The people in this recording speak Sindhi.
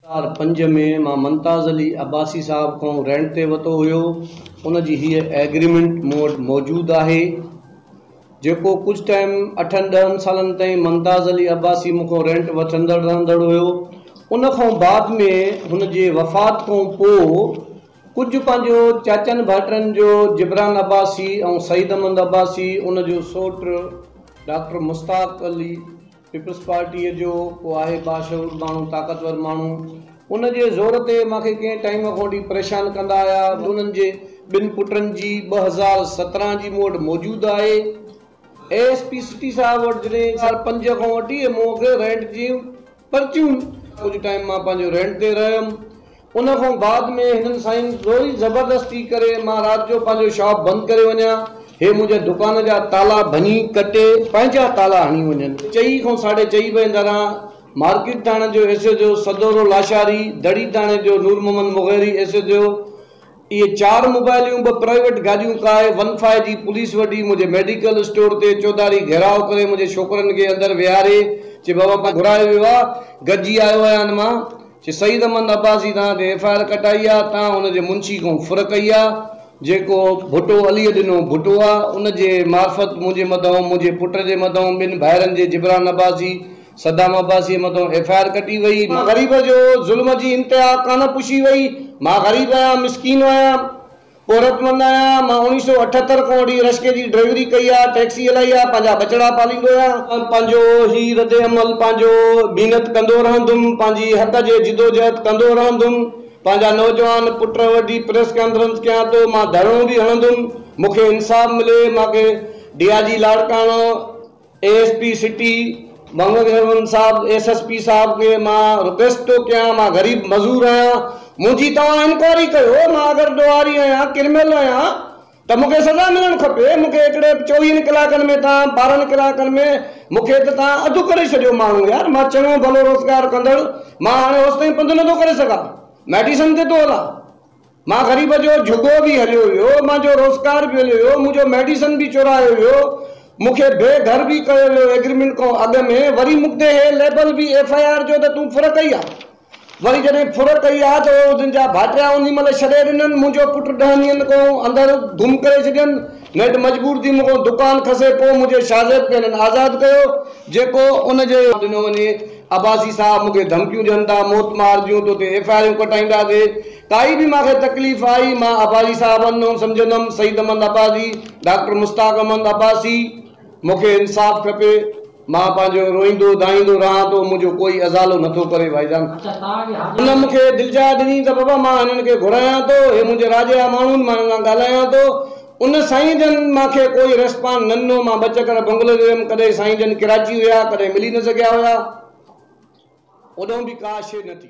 هزار پنج ۾ مان ممتاز علي عباسي صاحب کان رينٽ تي ورتو هيو ان جي هيء ايگريمينٽ مون وٽ موجود آهي جيڪو ڪجهه ٽائيم اٺن ڏهن سالن تائين ممتاز علي عباسي مون کان رينٽ وٺندڙ رهندڙ هيو ان کان بعد ۾ هن جي وفات کان پوء ڪجهه پنهنجو چاچن ڀائٽن جو جبران عباسي ۽ سعيد احمد عباسي ان جو سوٽ ڊاڪٽر مشتاق علي پيپلز پارٽيء جو ڪو آهي باشعور ماڻهو، طاقتور ماڻهو، ان جي زور تي مان کي ڪنهن ٽائيم کان وٺي پريشان ڪندا آيا، انهن جي ٻن پٽن جي ٻه هزار سترهن جي مون وٽ موجود آهي، اي ايس پي سٽي صاحب وٽ جڏهن ٻه هزار پنج کان وٺي مون کي رينٽ جون پرچيون، ڪجهه ٽائيم مان پنهنجو رينٽ تي رهيم. ان کان بعد ۾ هنن سائين زوري زبردستي ڪري مان رات جو پنهنجو شاپ بند ڪري وڃان، هي منهنجي دڪان جا تالا ڀڃي ڪٽي پنهنجا تالا هڻي وڃن. چئي کان ساڍي چئي بجي دوران مارڪيٽ ٿاڻي جو S H O Saduro Lashari, دڙي ٿاڻي جو Noor Muhammad Mugheri, S H O. اهي چار موبائليون، ٻه پرائيويٽ گاڏيون، ڪاء ون فائو جي پوليس وڍي منهنجي ميڊيڪل اسٽور تي چوڌاري گهيراء ڪري منهنجي ڇوڪرن کي اندر ويهاري چي بابا پنهنجو گهرايو ويو آ گڏجي آيو آهيان مان چي سعيد احمد عباسي توهان تي ايف آء آر ڪٽائي آ توهان هن جي منشي کان ڦر ڪئي آ جيڪو ڀٽو عليء ڏنو ڀٽو آ ان جي معرفت منهنجي مدئون منهنجي پٽ جي مدئون ٻن ڀائرن جي جبران عباسي صدام عباسيء مٿان ايف آء آر ڪٽي وئي. مان غريب جو ظلم جي انتها ڪانه پوشي وئي. مان غريب آهيان، مسڪين آهيان، پورهيتمند آهيان. مان اوڻيهه سؤ اٺهتر کان وٺي رشڪي جي ڊرائيوري ڪئي آهي، ٽئڪسي هلائي آهي، پنهنجا ٻچڙا پاليندو آهيان. مان پنهنجو هي ردعمل پنهنجو محنت ڪندو رهندم، پنهنجي حق جي جدوجهد ڪندو رهندم. پنهنجا نوجوان پٽ وڍي پريس ڪانفرنس ڪيان ٿو. مان ڌرڻو به هڻندم، مون کي انصاف ملي. مان کي D I G Larkana. A S P city Muhammad Heman صاحب ايس ايس پي صاحب کي مان رڪويسٽ ٿو ڪيان مان غريب مزور آهيان منهنجي توهان انڪوائري ڪيو مان اگر ڏوهاري آهيان ڪرميل آهيان ته مون کي سزا ملڻ کپي مون کي هڪڙي چوويهن ڪلاڪن ۾ توهان ٻارهن ڪلاڪن ۾ مون کي ته توهان اڌ ڪري ڇڏيو ماڻهو يار مان چڱو ڀلو روزگار ڪندڙ مان هاڻي هوستائين پنڌ نٿو ڪري سگهان ميڊيسن تي ٿو هلان. مان غريب جو جهڳو به هليو ويو، مان جو روزگار به هليو ويو، مون جو ميڊيسن به چورايو ويو، مون کي بي گهر به ڪيو ويو ايگريمينٽ کان اڳ ۾، وري مون تي هي ليبل به ايف آء آر جو ته تون ڦر ڪئي آ، وري جڏهن ڦر ڪئي آ ته اهي ان جا ڀاٽيا انهي مهل ڇڏي ڏنن، منهنجو پٽ ڏهن ڏينهن کان اندر گم ڪري ڇڏين، نيٺ مجبور ٿي مون کان دڪان کسي پوء منهنجي شاهزيب کي هنن آزاد ڪيو، جيڪو ان جي. ڏنو وڃي، عباسي صاحب مون کي ڌمڪيون ڏين ٿا، موت مار جون، تو تي ايف آء آريون ڪٽائينداسي. ڪائي به مان کي تڪليف آئي، مان عباسي صاحب هنڌ نون سمجهندم، سعيد احمد عباسي، ڊاڪٽر مشتاق احمد عباسي، مون کي انصاف کپي، مان پنهنجو روئيندو دانهيندو رهان ٿو، منهنجو ڪوئي ازالو نه ٿو ڪري ڀائي جان. هن مون کي دلجاء ڏني ته بابا مان هنن کي گهرايان ٿو، هي منهنجي راء جا ماڻهو آهن، مان هنن سان ڳالهايان ٿو، ان سائين جن مان کي ڪوئي ريسپانڊ نه ڏنو، مان ٻه چڪر بنگلو جو ويم، ڪڏهن سائين جن ڪراچي هيا، ڪڏهن ملي نه سگهيا هيا، هوڏانهن به ڪا شيء نه ٿي.